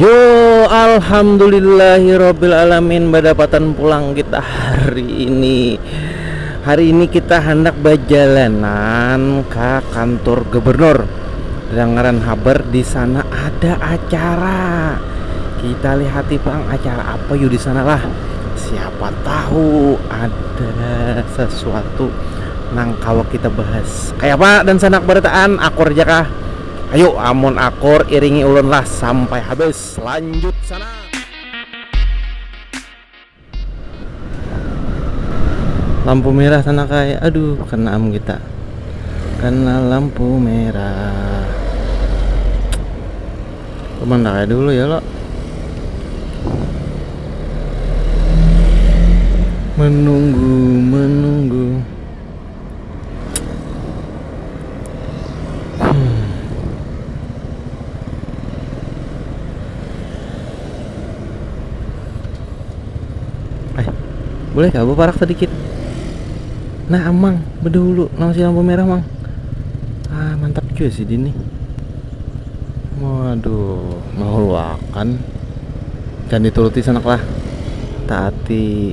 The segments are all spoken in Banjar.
Yo alhamdulillahirobbilalamin badapatan pulang kita hari ini. Hari ini kita handak bajalanan ke kantor gubernur. Dengaran habar di sana ada acara. Kita lihati pang acara apa yuk di sana lah. Siapa tahu ada sesuatu nang kawa kita bahas. Kayak apa dan sana barataan akur aja kah? Ayu amun akur iringi ulun lah sampai habis lanjut sana. Lampu merah sana kai aduh kena am kita kena lampu merah cuman kayak dulu ya lo menunggu menunggu Boleh kah beparak sedikit? Nah, amang, bedulu, nang si lampu merah, mang. Ah, mantap juga sih dini. Waduh, mehuluakan. Jangan dituruti sanak lah. Taati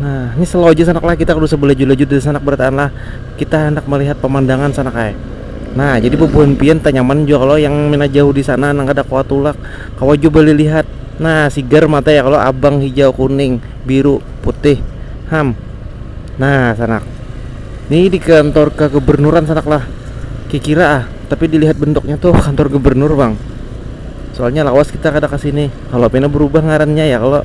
Nah, ini slow aja sanak lah, kita kudu sebelaju-laju dari sanak berataan lah. Kita hendak melihat pemandangan sanak ay. Nah, jadi bubuhan pian tanyaman jua kalau yang mina jauh di sana nang kada kawa tulak, kawa jua balilihat. Nah, sigar mata ya kalau abang hijau, kuning, biru, putih. Ham. Nah, sanak. Ini di kantor kegebernuran sanak lah. Kikira ah, tapi dilihat bentuknya tuh kantor gubernur bang. Soalnya lawas kita kada ke sini. Kalau pina berubah ngarannya ya kalau.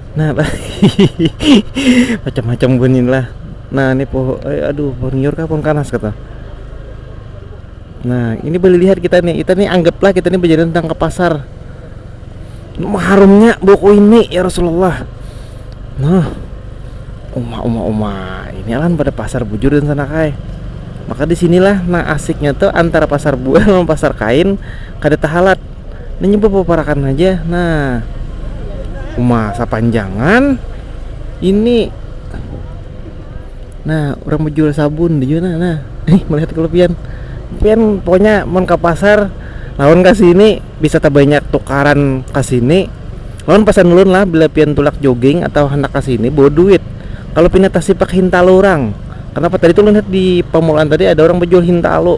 nah macam-macam bunyi lah nah ini pohon eh, aduh pohon nyiur kah pohon kanas kata nah ini boleh lihat kita nih kita nih anggaplah kita nih berjalan tentang ke pasar harumnya buku ini ya Rasulullah nah uma uma uma ini alam pada pasar bujur dan sana kai maka disinilah nah asiknya tuh antara pasar buah sama pasar kain kada tahalat Nanya bapaparakan haja nah uma sapanjangan ini nah urang bajual sabun di jua nah ih melihat kalo pian pian pokoknya mun ka pasar lawan ka sini bisa tabanyak tukaran ka sini lawan pasan ulun lah bila pian tulak joging atau handak ka sini bawa duit kalo pina tasipak hintalu urang kenapa tadi tu ulun lihat di pamulaan tadi ada urang bajual hintalu.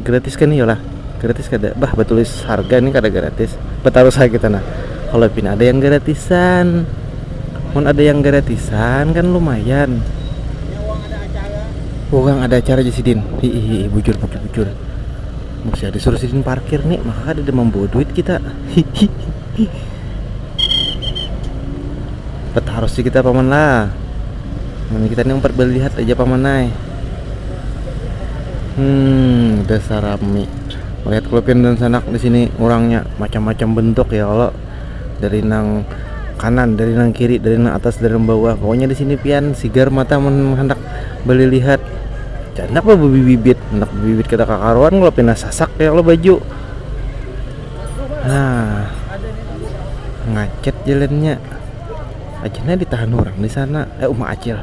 gratis kan iyalah gratis kada bah batulis harga ini kada gratis betaruh saja kita nah kalau pin ada yang gratisan mun ada yang gratisan kan lumayan uang ada acara aja sidin hihihi bujur bujur bujur masih ada suruh sidin parkir nih maka ada membawa duit kita hihihi betaruh sih kita paman lah ini kita nih umpat belihat aja paman naik Hmm, desa rami. Melihat kelupin dan sanak di sini orangnya macam-macam bentuk ya Allah. Dari nang kanan, dari nang kiri, dari nang atas, dari nang bawah. Pokoknya di sini pian sigar mata mun handak balilihat. Handak ba bibit, handak bibit kada kakaruan kalo pina sasak ya Allah baju. Nah, ngacet jalannya. Aja nah ditahan urang di sana. Eh, uma acil.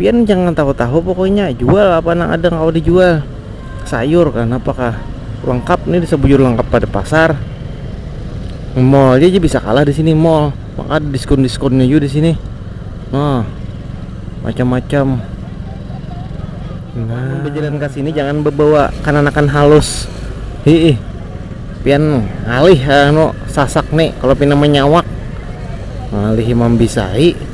pian jangan tahu-tahu pokoknya jual apa nang ada kawa dijual sayur kan apakah lengkap nih bisa bujur lengkap pada pasar mall aja bisa kalah di sini mall maka ada diskon-diskonnya juga di sini nah macam-macam nah berjalan ke sini jangan membawa kananakan halus hiih pian ngalih anu sasak nih kalau pina menyawak ngalihi mambisai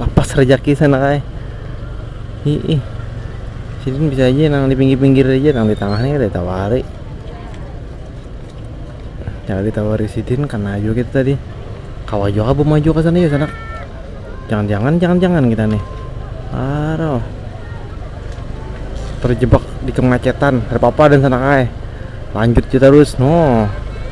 lapas rejaki sana kai ih sidin bisa aja nang di pinggir-pinggir aja nang di tengah nih ada tawari jangan ditawari sidin karena aja kita tadi kawa juga bu maju ke sana ya sana jangan-jangan jangan-jangan kita nih aduh terjebak di kemacetan ada apa-apa dan sana kai lanjut aja terus no